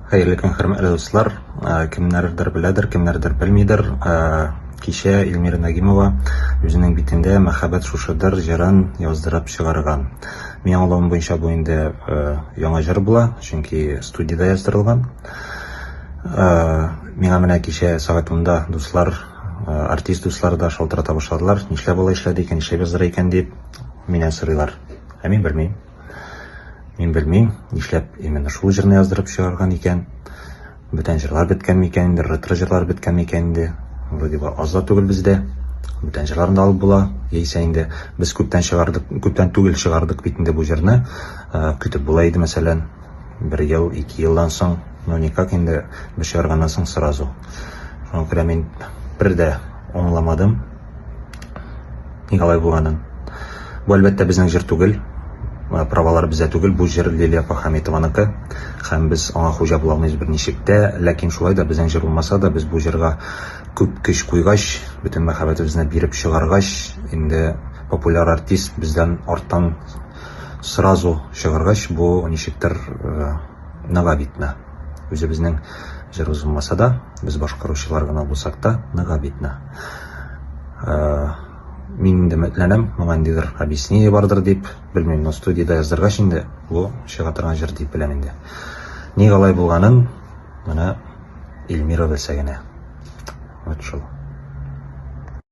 Хәерле көн, хөрмәтле дуслар. Э, кемнәрдер беләдер, кемнәрдер белмидер. Э, кичә Эльмира Нагимова үзенең битендә мәхәббәт шушыдыр җырын яздырып чыгарган. Мин аңлавым буенча бу инде э, яңа җыр була, чөнки студияда яздырылган. Миңа менә кичә сәгать 10 дуслар, артист дуслар да шалтырата башладылар. Нишләп алай эшләде икән, нишләп яздыра икән дип миннән сорыйлар. Ә мин белмим. Мин белмим, нишләп именно шул җырны яздырып чыгарган икән. Бүтән җырлар беткән микән инде, ретро җырлар беткән микән инде. Вроде бы аз да түгел бездә. Бүтән җырларын да алып була. Яисә инде без күптән чыгардык, күптән түгел чыгардык бит инде бу җырны. Э, көтеп була иде, мәсәлән, бер ел, ике елдан соң, ну никак инде без чыгарганнан соң сразу. Шуңа күрә мин бер дә аңламадым. Николай Буранын. Бу әлбәттә безнең җыр түгел, э, правалар бездә түгел, бу җыр Лилия Пахаметованыкы һәм без аңа хуҗа була алмыйбыз берничек тә, ләкин шулай да безнең җыр булмаса да, без бу җырга күп көч куйгач, бөтен мәхәббәтебезне биреп чыгаргач, инде популяр артист бездән арттан сразу чыгаргач, бу ничектер э, ныга бит на. Үзебезнең җырыбыз булмаса да, без башкаручылар гына булсак та, ныга бит на. Э, мин инде өметләнәм, моңа ниндидер объяснение бардыр дип, белмим, но студиядә яздыргач инде, бу чыга торган җыр дип беләм инде. Ник алай булганын менә Эльмира белсә генә. Вот шул.